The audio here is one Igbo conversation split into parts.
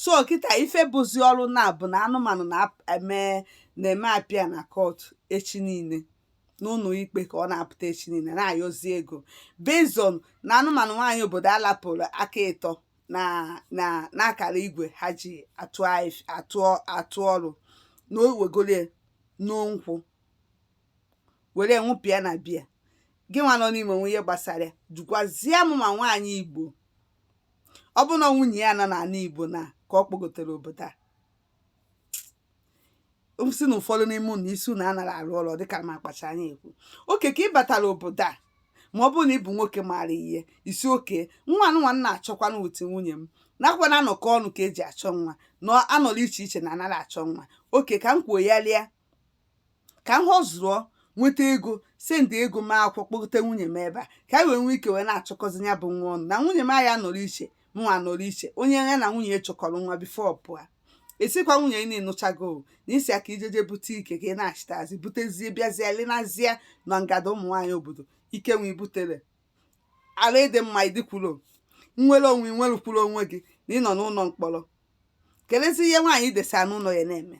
so kịta ife bụzi ọrụ na bụ na anụmanụ na-eme na-eme appear na court echi niile n'ụlọ ikpe ka ọ na-apụta echi niile na-ayọzi ego based on na anụmanụ nwaanyị obodo a lapụrụ aka ịtọ na na n'akara igwe ha ji atụ aif- atụ atụ ọrụ na o wegoro ya n'nkwụ were ṅụpịa na beer gị nwa nọ n'ime o nwee ihe gbasara ya jụkwazie m ma nwaanyị igbo ọ bụrụ na nwunye ya nọ n'ala Igbo na ka ọ kpọgotere obodo a sị na ụfọdụ n'ime unu isi unu anaghị arụ ọrụ dịka m akpacha anya ekwu okay ka ị batara obodo a ma ọ bụrụ na ị bụ nwoke maara ihe ị sị okay nwa nwa m na-achọkwanụ with nwunye m nakwa na anọkọ ọnụ ka e ji achọ nwa na anọrọ iche iche na anaghị achọ nwa okay ka m kwuo ya lịa ka m hustle nweta ego sendị ego mee akwụkwọ kpọgote nwunye m ebe a ka anyị wee nwee ike wee na-achọkọzi ya bụ nwa ọnụ na nwunye m anyị anọrọ iche mụnwa anọrọ iche onye ya na nwunye ya chọkọrọ nwa before pụọ ị sịkwa nwunye gị na ị nụchago na ị sị ka i jeje bute ike ka ị na-achịtazi butezie bịazie lenazie na ngada ụmụ nwaanyị obodo ike nwe i butere ala ịdị mma ị dịkwurọ nnwere onwe i nwekwurọ onwe gị na ị nọ n'ụlọ mkpọrọ kelezi ihe nwaanyị i desa n'ụlọ ya na-eme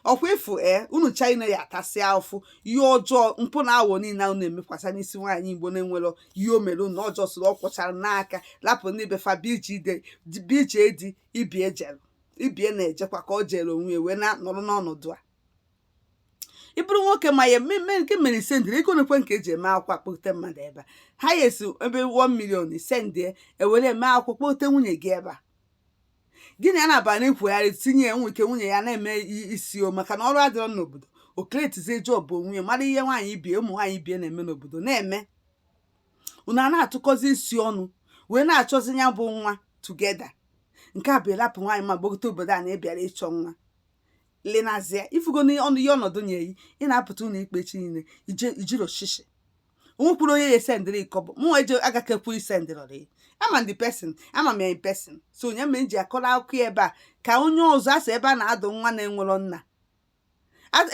ọ kwa ị fụ ee unu chee na ọ ya atasị afụfụ ihe ọjọọ mpụ na awọ niile ahụ na-emekwasa n'isi nwaanyị igbo na-enwerọ ihe o mere unu ọjọọ soro ọ kwụchara n'aka lapụ ndị be fa bichi ide bichi edi ibe ya jere ibe ya na-ejekwa ka ọ jere onwe ya wee na-anọrọ n'ọnọdụ a ị bụrụ nwoke ma ya mmemme nke mere i sendịrị ego nekwe nke e ji eme akwụkwọ akpọte mmadụ ebe a ha ya esi ebe 1 million i sendị e were eme akwụkwọ kpọte nwunye gị ebe a gị na ya na-aba na-ekwugharị tinye ya nwe ike nwunye ya na-eme i- isi o maka na ọrụ adịrọ n'obodo o createzie job onwe ya mara ihe nwaanyị ibe ya ụmụ nwaanyị ibe ya na-eme n'obodo na-eme unu a na-atụkọzi isi ọnụ wee na-achọzi ya bụ nwa together nke a bụ ị rapụ nwaanyị ma gbagote obodo a na ị bịara ịchọ nwa lenazia ị fụgo n'ọnụ ihe ọnọdụ nyere gị ị na-apụta ụlọ ikpe chi niile ije ijiri oshishi o nwekwurọ onye ya sendịrị kọbọ mụ eje agakekwu isendịrọrị ama m the person ama m ya in person so ọ ya mere m ji akọrọ akụkọ ya ebe a ka onye ọzọ a sị ebe a na-adụ nwa na-enwerọ nna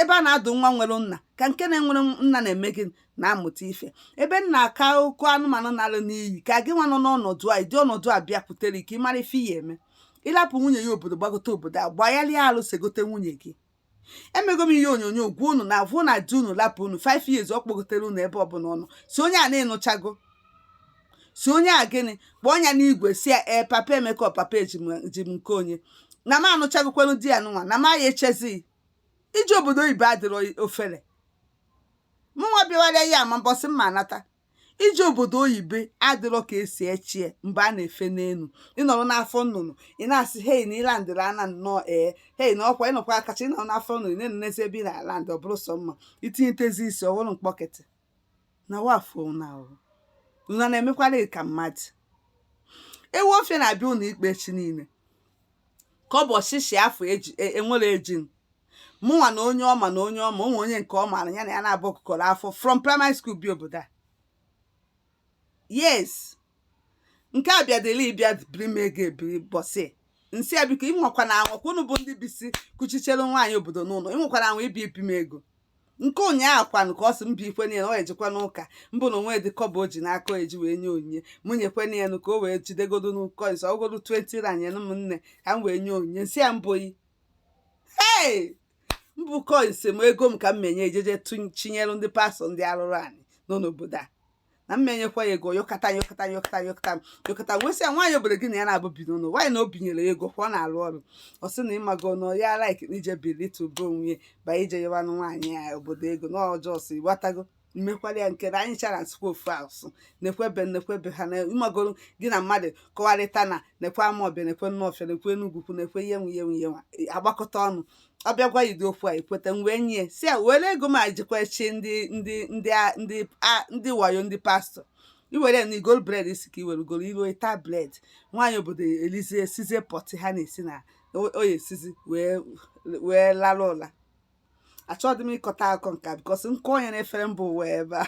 ebe a na-adụ nwa nwere nna ka nke na-enwerọ nna na-eme gịnị na-amụta ife ebe m na-akọ akụkọ anụmanụ na-ala n'iyi ka gị nwa nọ n'ọnọdụ a ụdị ọnọdụ a bịakwutere ka ị mara ife ị ya eme ị lapụ nwunye ya obodo gbagote obodo a gbagharịa alụsị gote nwunye gị emego m ihe onyonyo gwa unu na a vụ na di unu lapụ unu 5 years ọ kpọgoterọ unu ebe ọbụla ọ nọ sị onye a na ị nụchago sị onye a gịnị kpọọ ya n'igwe sị ya ee papa emeka ọ papa ejike onye na m anụchagokwanụ di a nụnwa na m aya echezi gị obodo oyibo adịrọ ofere mụnwa bịawara ya ama mbọsị m ya anata ije obodo oyibo adịrọ ka esi echie mgbe a na-efe n'enu ịnọrọ n'afọ nnụnụ ị na-asị hei na ịlandịrị ana nnọọ ee hei na ọkwa ịnọkwa akacha ịnọrọ n'afọ nnụnụ ị na-enenezi ebe ị na-alandị ọ bụrụ sọ mma itinyetezi isi ọ bụrụ mkpọkịtị na wafụ na ahụhụ unu na-emekwara ka mmadụ ewu ọfịa na-abịa ụnọ ikpe echi niile ka ọ bụ ọshịshị afọ eji e, enwere ejin mụnwa na onye ọma na onye ọma o nwe onye nke ọ maara ya na ya naabọ gụkọrọ akwụkwọ from primary school bi obodo a yes nke a bịadịla ịbịa biri m ego ebiri ụbọsị nsị ya biko ị nwakwana anwa kwa unu bụ ndị bisi kuchichere nwaanyị obodo n'ụnọ ị nwakwana anwa ịbịa ibi m ego nke ụnyaahụ kwanụ ka ọ sị m biko niile ọ ejekwa n'ụka mbụ na o nwedị kọbọ o ji n'aka eji wee nye onyinye mụ nyekwe na elu ka o wee jidegodo n'ụkọ nsọ ọgodo 20 rand nyere m nne ka m wee nye onyinye sị ya mbụ yi hey mbụ kọịnsị m ego m ka m menye ejeje chinyere ndị pastọ ndị arụrụ ana nọ n'obodo a na m ma enyekwa ya ego yọkọta yọkọta yọkọta yọkọta yọkọta wee sị ya nwaanyị obodo gị na ya naabọ bi n'ụlọ nwaanyị na o binyere ya ego ka ọ na-arụ ọrụ ọ sị na ịmago na ọ ya laik na ije bilite ube onwe ya ba ije yọwanụ nwaanyị ya obodo ego na ọjọọ si gbatago mmekwara ya nke na anyị chara na-asụkwa ofu asụsụ nekwe ebe nekwe ebe ha na ịmagoro gị na mmadụ kọwarịta na nekwe amawbia nekwe nawfia nekwe enugwu nekwe ihe nwa ihe nwa ihe nwa agbakọta ọnụ ọ bịakwa yide okwu a ekweta m wee nye sị ya were ego m ajikwa chi ndị ndị ndị a- ndị a- ndị wayo ndị pastọ iwere na igo bred isi ka iwere goro iru taa bred nwaanyị obodo elizie sizie pọtị ha na-esi na o- o ya esizi wee wee lara ụla achọghị m ịkọta akụkọ nke a bikọs nke onye na-efere mba ụwa ebe a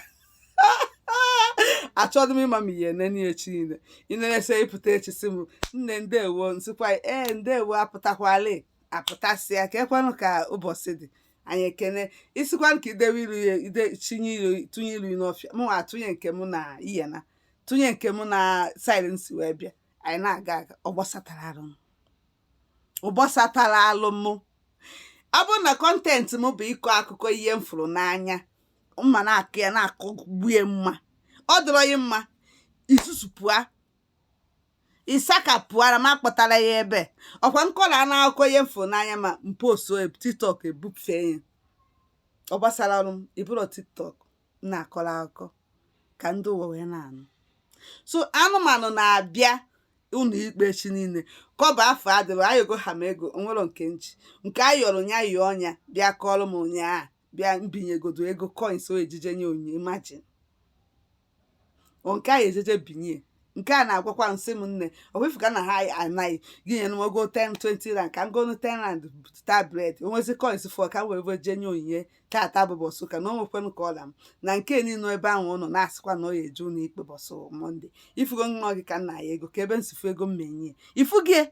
achọghị m ịma m ihe nene echi niile ịnerese ịpụta echi sị m nne ndewo nsịkwa ee ndewo apụtakwala apụtasịa kekwanụ ka ụbọsị dị anyị ekene ị sịkwanụ ka i dewe iru ya ide chinye iru tụnye iru n'ọfịa mụ nwa atụnye nke mụ na ihe na tụnye nke mụ na saịdị nsi wee bịa anyị na-aga aga ọ gbasatara arụ m ọ gbasatara arụ m ọ bụrụ na kọntentị m bụ ịkọ akụkọ ihe m fụrụ n'anya m ma na-akọ ya na-akọ gbue mma ọ dịrọ gị mma isusupụa Isaka pụara m akpọtara ya ebe ọkwa nkọrọ a n'akụkọ ihe m fụ n'anya ma m post tiktok ebufee ya ọ gbasara arụ m ịbụrụ tiktok na-akọrọ akụkọ ka ndị ụwa wee na-anụ so anụmanụ na-abịa ụnọ ikpe echi niile kọbọ afọ adịrị anyị ego ha ma ego o nwere nke nchi nke a yọrọ nya yọọ ọnya bịa kọrọ m ụnyaahụ bịa m binyegodo ego coins o eji je nye onyinye imagine ọ nke anyị ejeje binye nke a na-agwakwa sị m nne ọwefu ka na ha anaghị gị nyere m ego 10 20 rand ka m gonu 10 rand ta bred o nwezie coins fọ ka m wee wee jee nye onyinye tata bụ ụbọsị ụka na o nwekwanụ ka ọla m na nke niile ebe ahụ ụnụ na-asịkwa na ọ ya eje ụlọ ikpe ụbọsị mọnde ifugo nwa gị ka nna ya ego ka ebe nsifu ego m menye ifugie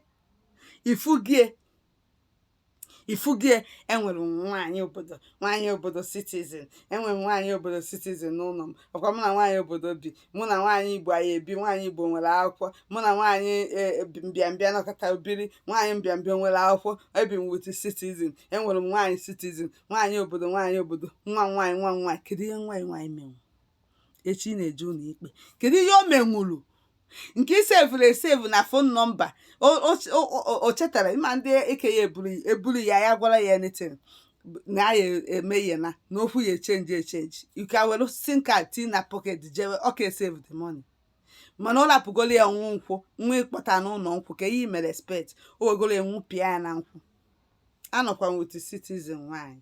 ifugie ifugie enwere m nwaanyị obodo nwaanyị obodo citizen enwere m nwaanyị obodo citizen n'ụlọ m ọkwa mụ na nwaanyị obodo bi mụ na nwaanyị igbo anyị ebi nwaanyị igbo nwere akwụkwọ mụ na nwaanyị e, bi- mbịambịa nọkọta biri nwaanyị mbịambịa nwere akwụkwọ ebi m with citizen enwere m nwaanyị citizen nwaanyị obodo nwaanyị obodo nwa m nwaanyị nwa m nwaanyị kedu ihe nwaanyị nwaanyị menwe echi ị na-eje ụlọ ikpe kedu ihe o menwuru nke i sevụrụ esevu na fon nọmba o chetara ịma ndị eke ya eburu ya ya gwara ya anything na ya eme ihe na n'okwu ya echenji echenji ike were sim kaad tii na pọket jewe ọ ka esevu the money mana ọ rapụgoro ya nwụ nkwụ nwa ịkpọta n'ụlọ nkwụ ka ihe mere respect o wegoro enwu pịa ya na nkwụ anọkwa nweta citizen nwaanyị